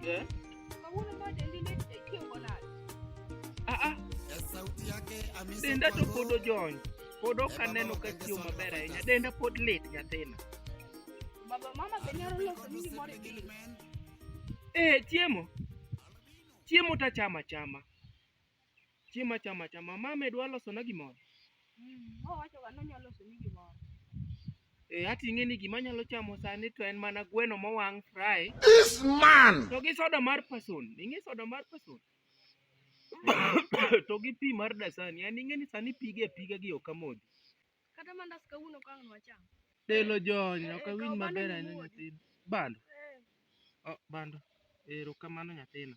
Eh? Ah, ah. Denda to pod ojony. Pod ok aneno ka chiwo maber ahinya. Denda pod lit nyathina. Eh, chiemo. Chiemo tachama chama. Chiemo achama achama. Mama dwa losona gimoro. Mm, owacho ga nonyalo losoni gimoro. Eh, ati ing'e ni gima anyalo chamo sani to en mana gweno mowang' fry. This man! To gi soda mar person. Ing'e soda mar person? to gi pi mar dasani. An ing'e ni sani pige piga gi ok amodhi. Kata mandas kawuono ka ang' nwacham. Delo jony, ok Eh, awinj kaw bando maber ahinya imuodi. nyathina. Bando. Eh. Oh, bando. Erokamano nyathina.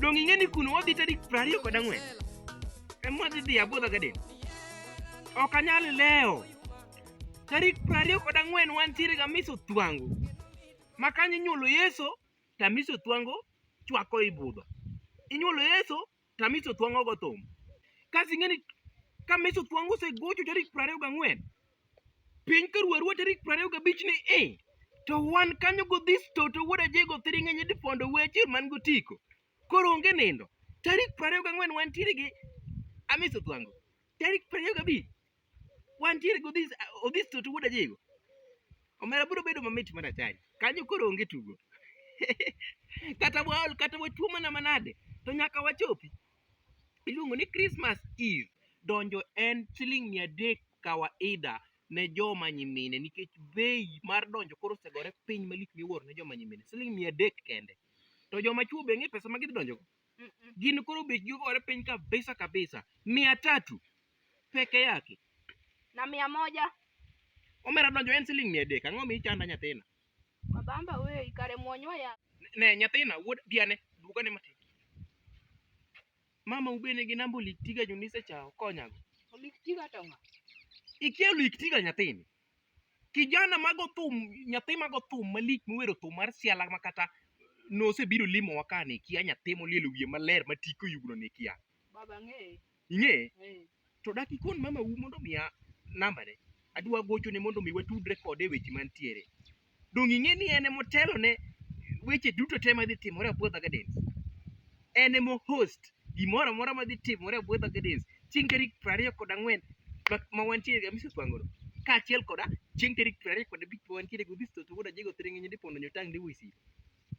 Dong ing'e ni kuno wadhi tarik prariyo kod ang'wen. Ema wadhi dhi abodha gaden. Ok anyal lewo. Tarik prariyo kod ang'wen wantiere ga miso thwango. Ma kanyo inyuolo Yesu, tamiso thwango chwako i budho. Inyuolo Yesu, to Amiso Thuang' ogo thum. Kasto ing'e ni ka Amiso Thuang' osegocho tarik piero ariyo gang'wen, piny koru arua tarik piero ariyo gabich ni i, to wan kanyo godhis to to wuod Ajego thiring' e nyidi pondo weche man gotiko. Koro onge nindo. Tarik piero ariyo gang'wen wantiere gi Amiso Thuango. Tarik piero ariyo gabich Wantiere gi Odhis Odhis Toto wuod Ajigo. Omera biro bedo mamit mar achari. Kanyo koro onge tugo. kata waol kata watuo mana manade to nyaka wachopi. Iluongo ni Christmas Eve. Donjo en siling mia adek kawaida ne joma nyimine nikech bei mar donjo koro osegore piny malich miwuoro ne joma nyimine. Siling mia adek kende. To joma chwo be ng'e pesa ma gidhi donjogo. gin koro bechgi ogore piny kabisa kabisa. Mia tatu peke yake na mia moja omera donjo en siling mia adek ang'o michanda nyathina mabamba weyi kare mwonyo ya ne nyathina wuod diane dwogane matin mama ubene gi namba oliktiga jonise cha okonyago oliktiga to ng'a ikia oliktiga nyathini Kijana mago thum, nyathi mago thum malich mowero thum mar siala ma kata nosebiro limowa ka ne kia nyathi molielo wiye maler ma tike oyugno ne kia. Baba ng'eye. Ing'eye? Eh. To dak ikon mama u mondo omiya nambane. Adwa gochone mondo mi watudre kode e weche mantiere. Donge ing'e ni en ema otelo ne weche duto te madhi timore Abuodha Gardens? En ema o host gimoro amora madhi timore Abuodha Gardens chieng' tarik piero ariyo kod ang'wen ma- ma wantiere ga Misus Wangoro kaachiel koda chieng' tarik piero ariyo kod abich ma wantiere go Odhis Toto wuod Ajego Thiring'inyi Dipondo Nyotang' Ndiwo Isiro.